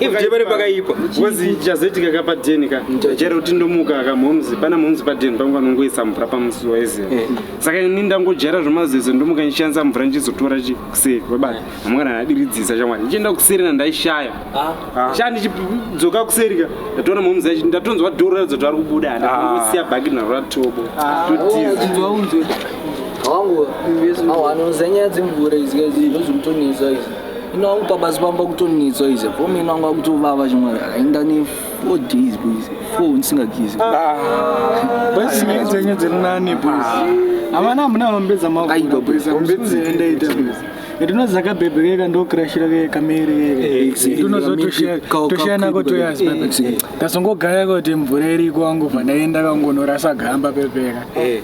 ivjebare pakaipa kozi chazoitika ka padeni ka chero kuti ndomuka ka mhomzi pana mhomzi padeni pangu vanongoisa mvura pamusi waiziva eh. saka ini ndangojara zvomazizo ndomuka ndichishandisa mvura ndichizotora chi kuseri kwebata hamungana ndadiridzisa chamwari ndichienda kuseri na ndaishaya ah. shaa ndichidzoka kuseri ka ndatoona mhomzi yacho ndatonzwa dhoro radzo tari kubuda handangosiya ah. bhagi naro ratobo ah. totiza oh, wangu awo anonzanyaya dzemvura izi kazi ndozvikutonetsa izi ino wangu pabasa pamba kutonetswa ize fom ino wangu akutovava chimwe ainda ne four days boys four ndisingagezi nyaya dzenyu dziri nani boys havana hamuna hombe dzamaombedzaendaita boys ndinozi zakabhebhe keka ndokirashira ke kameri kekanozotoshana kotoyas kasongogaya kuti mvura iriko wangu pandaenda kangonorasa gamba pepeka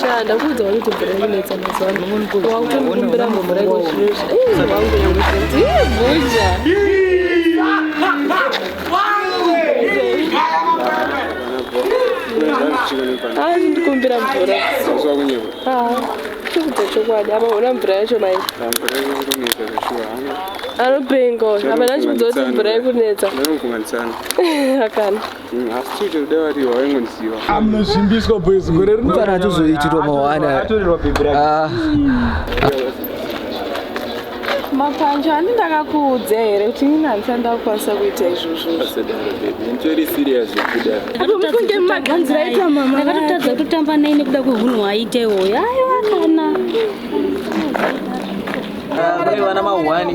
Sha ndakuudza wari kuti mvura inetsa mazuva ano. Wakutombira mvura iko zviro zvi. Eh, wangu yangu kuti bhuja. Ah, ndikumbira mvura. Ah, ndikuudza chokwadi. Apa ona mvura yacho mai. Anopenga uyu. Apa ndachiudza kuti mvura ikunetsa. Akana. mfana atozoitirwa mawana Ah, Mapanje ani ndakakuudza here kuti ini handisati ndakukwanisa kuita izvozvo. Kunge mumaganzi raita mama ndakatotadza kutotamba naye nekuda kwehunhu hwaita iwoyo ayo akana Kune vana mahwani.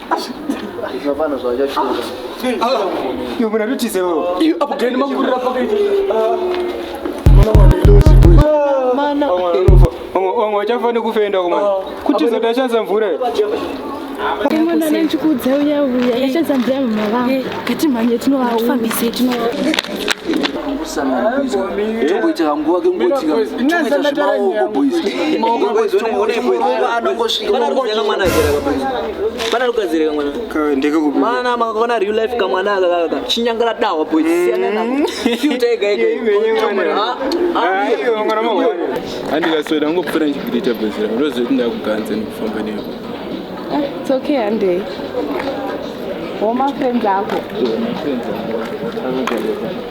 Zvinofana zvachachura. Iwe mwana rutize wewe. Iyo apo gani makurira pakaita. Mwana mwana ilozi boy. Mana. Wamwe wachafa nekufenda kumana. Kuti zoda chanza mvura. Mwana anachikudza uya uya. Yachanza mvura mama vangu. Kati mhanye tinowaona. Fambise tinowaona. tomboitira nguva kengotika toita zvemaoko boyspanarugadzirekamanamakaona real life kamwana akakaka chinyangara dahwa boysandikasoda ngopfura ndichikuita bhezira ndoziva kuti ndakuganza ndikufamba newe ah, it's okay handei womafenzi ako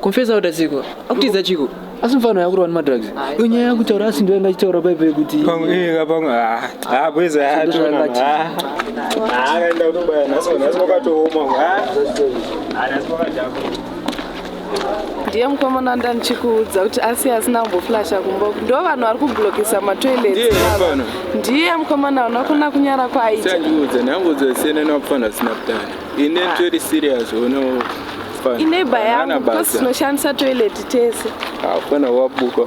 confesa kuti asiko akutiza chiko asi mfano yakurwa nemadrugs iyo nyaya yakutaura asi ndo yanga achitaura paipo yekuti akaenda kutobaya nhasi nhasi kwakatooma ndiye mukomana ndanichikuudza kuti asi asina kumboflasha kumbo ndo vanhu vari kublokisa matoilet ndiye mukomana vanakona kunyara kwaita Ine very serious uno fana. Ine baya because no chance toilet tese. Hapana wabuka.